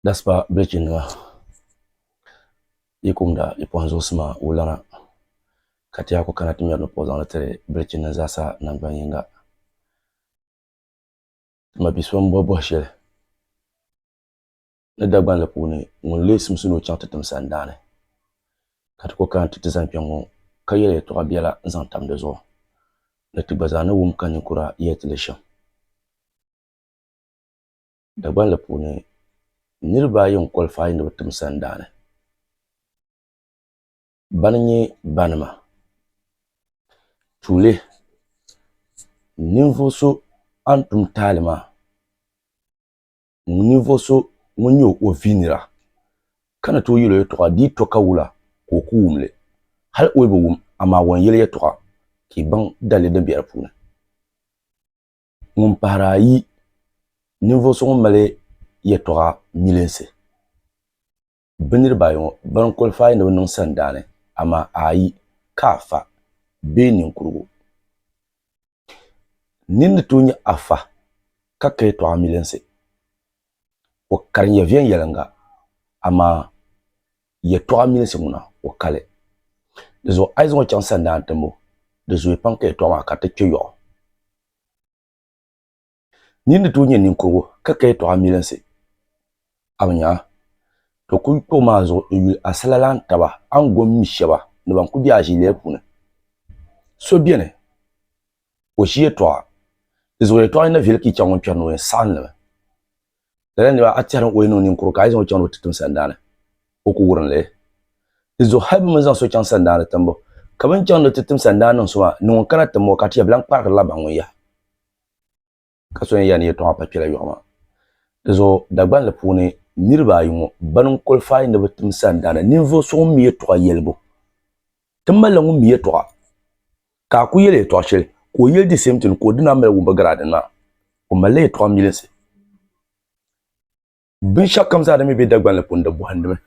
Daspa bilichi nima yi kumda yi pɔhim zuɣusima wulana ka tɛhigu kana ti mɛri ni puɣi zaŋli tiri bilichi nim zaa sa nangban yinga tima biso n bɔhi bɔhi shɛli. ni Dagbanli puuni ŋun lee simsi ni o chaŋ ti tim sandaani ka ti ku kana ti ti zani kpɛŋŋo ka yɛli yɛltɔɣa biɛla n zaŋ tam di zuɣu ni ti gba zaa ni wum ka ninkura yɛli ti li shɛm. Dagbanli puuni niraba ayi n kɔlifaai ni bi tim sandaani. Bani n nyɛ ba nima? Tuuli ninvuɣu so a ni tum taali maa ninvuɣu so ŋun nyɛ o viinira ka ni tooi yɛl o yɛltɔɣa di yi to ka wula ka o ku wum li. Hal o yi bi wum, amaa o ni yɛli yɛltɔɣa ka i baŋ dalili din be di puuni. Ŋun pahiri ayi, ninvuɣu so ŋun mali yɛltɔɣa milinsi. Bɛ niriba ayi ŋɔ ban kɔlifaai ni bɛ niŋ sandaani, amaa a yi ka afa bee ninkurigu, nini ni tooi nyɛ afa ka ka yɛtɔɣa milinsi? O kari nyɛ viɛnyɛliŋga, amaa yɛtɔɣa milinsi ŋuna o kali. Dizuɣu a yi zaŋ o chaŋ sandaani timbu, di zooya pam ka yɛtɔɣa maa kariti kpe yɔɣu. Nyin ni tooi nyɛ ninkurigu ka ka yɛtɔɣa milinsi a bi nyaŋa, to kul kpuɣi maa zuɣu n-yuli asilalahi taba Angoom mi shɛba ni ban kul be a ʒiilɛli puuni. So beni, o ʒi yɛtɔɣa, di zuɣu yɛtɔɣa ni na viɛli ka yi chaŋ ŋun kpɛri ni o yɛn saɣim li mi. Lala nira a tɛhiri ni o yi niŋ ninkurigu ka a yi zaŋ o chaŋ ni o ti tim sandaani, o ku wurin li. Di zuɣu hal bɛ mi zaŋ so chaŋ sandaani timbu, ka bɛ ni chaŋ ni o ti tim sandaani niŋ so maa, ni ŋun kana tim o ka ti yɛli, Bɛ lan kpaarigirila baŋ ŋun yaha. ka so yɛn yan yɛtɔɣa pa kpɛla yɔɣu maa. Di zuɣu Dagbani li puuni niriba ayi ŋɔ ban n kɔlifaai ni bɛ tim sandaana ninvuɣ so ŋun mi yɛtɔɣa yɛlibu. Ti malila ŋun mi yɛtɔɣa ka a ku yɛli yɛtɔɣa shɛli ka o yɛli di same thing ka o dina mali wumbu garaadin maa. O malila yɛtɔɣa milinsi. Binshɛɣukam zaa din mi be Dagbani li puuni di bɔhindimi.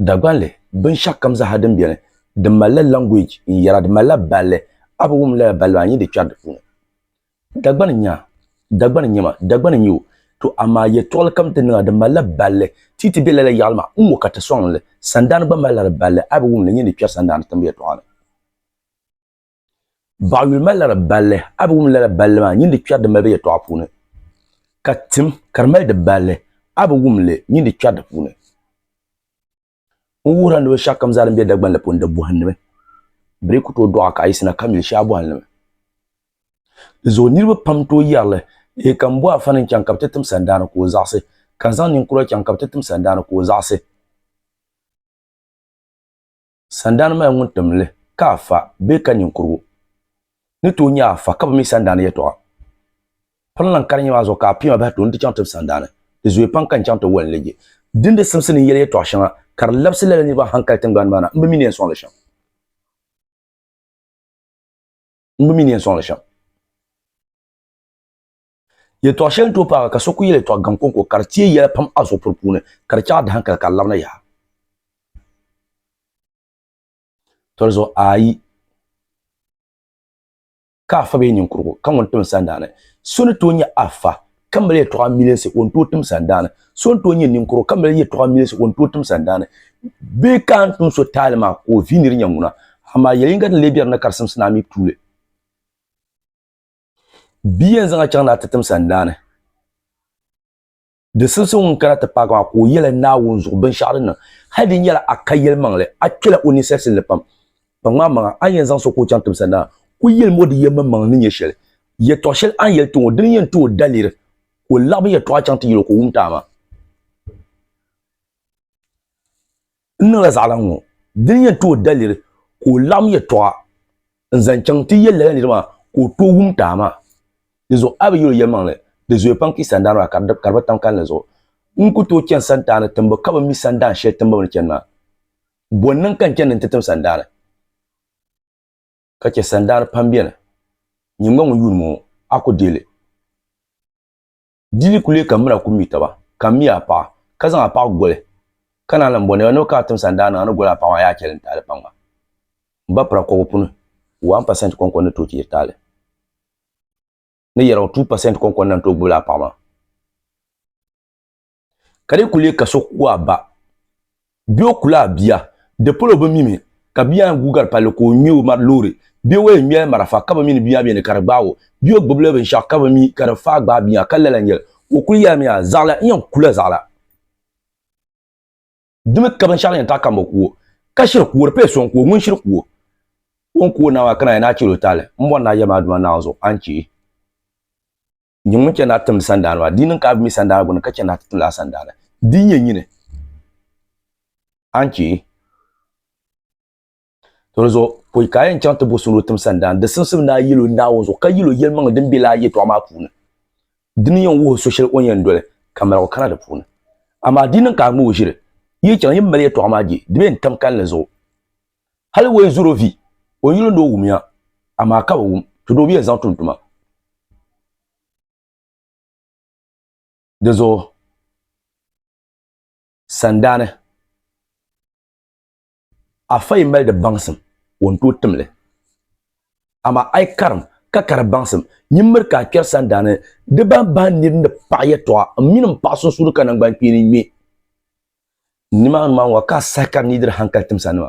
Dagbanli, binshɛɣukam zaaha din beni, di malila language n yɛra, di malila balli, a bi wum lala balli maa, n yi di kpɛri di puuni. Dagbani n nya, Dagbani n nyɛ ma, Dagbani n nyɛ o, to amaa yɛltɔɣili kam ti niŋ a, di malila balli, ti yi ti be lala yaɣili maa, n ŋɔ ka ti sɔŋ li, sandaani gba malila di balli, a bi wum li, n yi di kpɛri sandaani timbu yɛltɔɣa ni. Baɣayuli mali lala balli, a bi wum lala balli maa nyin di kpɛri din mali be yɛtɔɣa puuni, ka tim ka di mali di balli, a bi wum li nyin di kpɛri di puuni. N wuhir a ni bɛ shɛkam zaa din be Dagbaŋ la puuni di bɔhinnimi, bɛ di ku tooi dɔɣi ka a yiɣisina ka mili shɛli a bɔhinnimi. Di zuɣu niriba pam n-tooi yɛri li, Eei ka m bo Afani n-chaŋ ka bɛ ti tim sandaani ka o zaɣisi, ka n zaŋ ninkura chaŋ ka bɛ ti tim sandaani ka o zaɣisi. Sandani maa ŋun tim li ka a fa bee ka ninkurugu ni tooi nya a fa ka bi mi sandani yɛtɔɣa? Pini lan karinya maa zuɣu ka a pia maa bahi tooi n-ti chaŋ tib sandani. Di zooya pam ka n chaŋ ti wali n-leegi. Dindin simsi ni n yɛli yɛtɔɣ shɛŋa ka di labisi lala niriba n hankali tiŋgbani maa na, m bi mi ni yɛn sɔŋ li shɛm. Yɛltɔɣ shɛli n-tooi paagi ka so ku yɛl yɛltɔɣ gaŋ kɔŋko ka di teei yɛla pam a zuɣupuri puuni, ka di chaɣ a dahankali ka a labina yaha. Tɔlizuɣu ayi ka afa bee ninkurigu ka ŋun tim sandaani. So ni tooi nyɛ afa ka mali yɛltɔɣ amilinsi o ni tooi tim sandaani. So ni tooi nyɛ ninkurigu ka mali yɛltɔɣ amilinsi o ni tooi tim sandaani. Bee ka a ni tim so taali maa ka o vi ni di nyɛ ŋuna, amaa yɛl yiŋga din lee be di ni ka di simsi ni a mi tuuli. Bia yɛn zaŋ a chaŋ naa ti tim sandaani. Di simsi ŋun kana ti paagi maa ka o yɛli Naawuni zuɣu binshɛɣu din niŋ. Hali di nyɛla a ka yɛlimaŋli, a kpela o ninsalisinli pam. Kpaŋmi a maŋa, a ni yɛn zaŋ so ka o chaŋ tim sandaani, kul yɛlim o di yɛlimaŋmaŋli ni nyɛ shɛli. Yɛtɔɣ shɛli a ni yɛli ti ŋɔ, dini n-yɛn ti o daliri ka o laɣim yɛtɔɣa chaŋ ti yɛl o ka o wum ti a maa. n niŋla zaɣila ŋɔ dini yɛn ti o daliri ka o laɣim yɛtɔɣa n zaŋ chaŋ ti yɛli lala niri maa ka o tooi wum taai maa di zuɣu a bi yɛli o yɛlimaŋli di zooya pam ka yi sandaan maa ka di ka di bi tam kalinli zuɣu n ku tooi chani santaani timbu ka bi mi sandaan shɛli tiŋbu bini chani maa bɔ n niŋ ka n chani ni n ti tim sandaani ka chɛ sandaani pam bɛni nyingba ŋun yuuni ŋɔ a ku deei li Di ni ku leei ka mira ku mi taba, ka m mi a paɣa, ka zaŋ a paɣa goli, ka naan lan bɔni a ni o kana tiŋsa n-daa niŋ a ni goli a paɣa maa a yaa chɛli n taali kpaŋma. M ba pira kɔbu puni, waan pasɛnt kɔŋkɔn ni tooi ti yiri taali, ni yɛligu tuu pasɛnt kɔŋkɔn na n-tooi gbibila a paɣa maa. Ka di ku leei ka so ku a ba. Bɛ o ku la bia, di polo bi mi mi ka bia ŋun guugari palli ka o ŋme o mari loori. Bɛ o yɛn ŋmɛla marafa ka bi mi ni bia beni ka di gbaag o. Bɛ o gbibila binshɛɣu ka bi mi ka di faai gbaai bia ka lala n-yɛli o kuli yɛlimiya, Zaɣila, n yɛn ku la zaɣila. Di mi ka binshɛɣu yɛn taɣi ka m bi ku o. Ka shiri ku o, di paya so n-ku o. Ŋun shiri ku o, o ni ku o naai maa ka naai ni a chɛli o taali. M bɔri ni a yɛli ma a duuma naawuni zuɣu, a ni chɛ. nyɛ ŋun chɛ ni a timdi sandaani maa. Di niŋ ka a bi mi sandaani gbunni ka chɛ ni a ti tim lala sandaani. Di nyɛ nyini. A ni chɛ To di zuɣu pɔi ka a yɛn chaŋ ti bo so ni o tim sandaani, di simsim ni a yil o Naawuni zuɣu ka yil o yɛlimaŋli din be lala yɛtɔɣa maa puuni. Dini n-yɛn wuhi so shɛli o ni yɛn doli ka maligu kana di puuni. Amaa di yi niŋ ka a ŋme o ʒiri, yi yi chaŋ yi ni mali yɛtɔɣa maa je, di be n-tam kalinli zuɣu. Hal wei zuro vi o yuli ni o wumiya, amaa ka bi wum, ti do biya zaŋ tum tuma. Di zuɣu sandaani, a fa yi mali di baŋsim, o ni tooi tim li. Amaa a yi karim, ka ka di baŋsim, nyin miri ka a kpɛri sandaani di bahi bahi nir ni paɣi yɛtɔɣa m mini m paɣa sunsuuni ka naŋgbankpeeni ŋme. Nimaani maa ŋɔ ka a sahi ka n ni yi diri haŋkali timsanima.